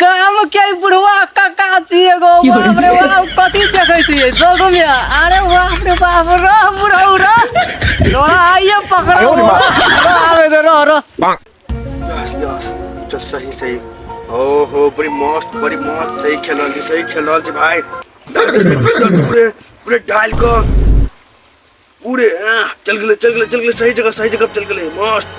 गाम के ई बुढ़वा काका छी एगो बाप रे बाप कथी देखै छियै जोग में अरे बाप रे बाप रह बुढ़ऊ रह तोरा आइए पकड़ो रह आवे दे रह रह तो सही सही ओहो बड़ी मस्त बड़ी मस्त सही खेल रहल छी सही खेल रहल छी भाई पूरे पूरे डाल को पूरे हाँ, चल गेले चल गेले चल गेले सही जगह सही जगह पे चल गेले मस्त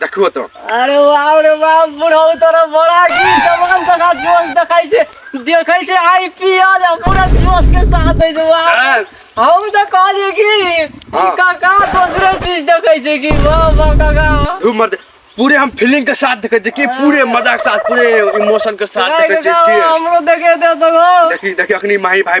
देखो तो अरे वाह रे वाह बुढ़ऊ तोरा बड़ा की जवान सका जोश देखाई छे देखै छे आईपीएल आ पूरा जोश के साथ है जो वाह हाँ। हम तो कहलिए कि ई हाँ। काका दूसरे चीज देखे छे कि वाह वाह काका धूम मर पूरे हम फीलिंग के साथ देखे कि पूरे मजा के साथ पूरे इमोशन के साथ अरे देखे काका छी हमरो देखे दे तो देखी देखी अखनी माही भाई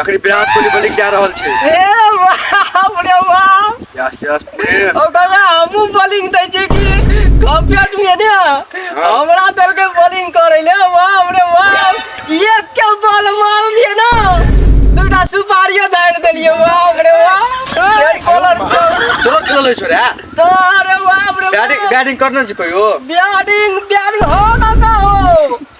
अखनी विराट कोहली बॉलिंग जा रहल छै ए बाप रे बाप यस यस प्रेम ओ दादा हमू बॉलिंग दै छै कि कॉपियट में ने हमरा दल के बॉलिंग करे ले बाप रे बाप एक के बॉल मार लिए ना दूटा सुपारियो दार देलिए बाप रे बाप एक बॉलर चलो खेल ले छोरा तो अरे बाप रे बैटिंग बैटिंग करना छै कहियो बैटिंग बैटिंग हो दादा हो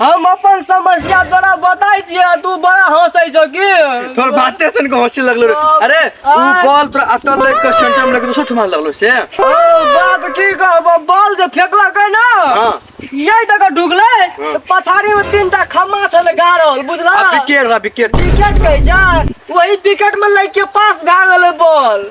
हम अपन समस्या तोरा बताई छियै आ तू बड़ा हंसै छौ की तोर बाते सुन के हंसी लगलो रे अब- अरे ऊ आय। बॉल तोरा अटल लग के सेंटर में लग दोसर ठमा लगलो से ओ बात की कहबो बॉल जे फेकलक है ना हां यही तक ढुकले हाँ। पछाड़ी में तीन टा खम्मा छल गाड़ल बुझला आ विकेट बा विकेट विकेट कह जा वही विकेट में लग के पास भए गेलै बॉल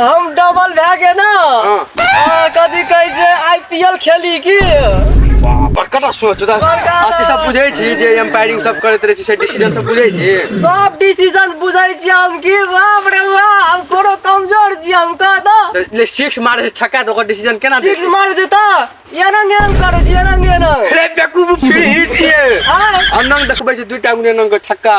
हम डबल भए गेल ने हाँ। आ, कथी कहै छै आईपीएल खेली की बड़का सोच बड़का बात। अथी सब बुझै छी जे एम्पायरिंग सब करैत रहै छी से डिसीजन सब बुझै छी सब डिसीजन बुझै छी हम की बाप रे बाप हम कोनो कमजोर छी हम कह दो तऽ ले सिक्स मारै छै छक्का तऽ ओकर डिसीजन केना दै सिक्स छी मार देता एना ने हम करै छी एना ने एना अरे बेकूफ फिर हिट छियै हाँ। अनंग देखबै छै दुइटा गुने अनंग के छक्का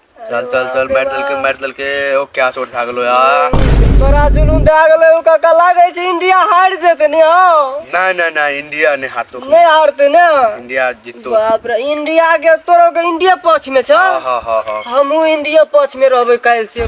चल चल चल मारि देलकै मारि देलकै ओ क्या चोट खा गेलो यार तोरा जुलूम भए गेलै ओ काका लागै छै इंडिया हारि जेतै ने हौ नहि नहि नहि इंडिया नहि हारतो नहि हारतै ने इंडिया जीततो बाप रे इंडिया के तोरो के इंडिया पक्ष में छ हाँ हाँ हाँ हाँ हमहूँ इंडिया पक्ष में रहबै काल्हि से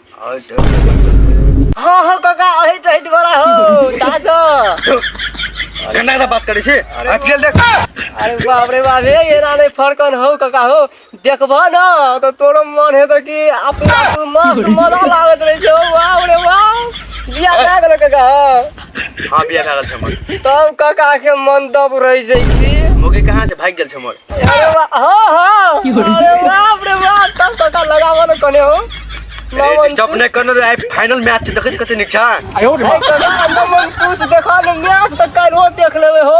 हाँ हाँ काका अही तो हिट बड़ा हो ताजो अरे ना बात करे छे आईपीएल देख अरे बाप रे बाप हे ये राने फरकन हो काका हो देखबो ना तो तोरो मन है तो कि अपना मस्त मजा लागत रहे छो वाह रे वाह बिया ना करो काका हां बिया भए गेल छै हमर तब काका के मन दब रह जाय की मोगी कहां से भाग गेल छै हमर अरे वाह हां हां अरे बाप रे बाप तब काका लगावा न कने हो नमन स्टॉप ने करनो रे फाइनल मैच छै देखै कते नीक छै आयो रे नमन पूछ देखा न मैच त काल हो देख लेबे हो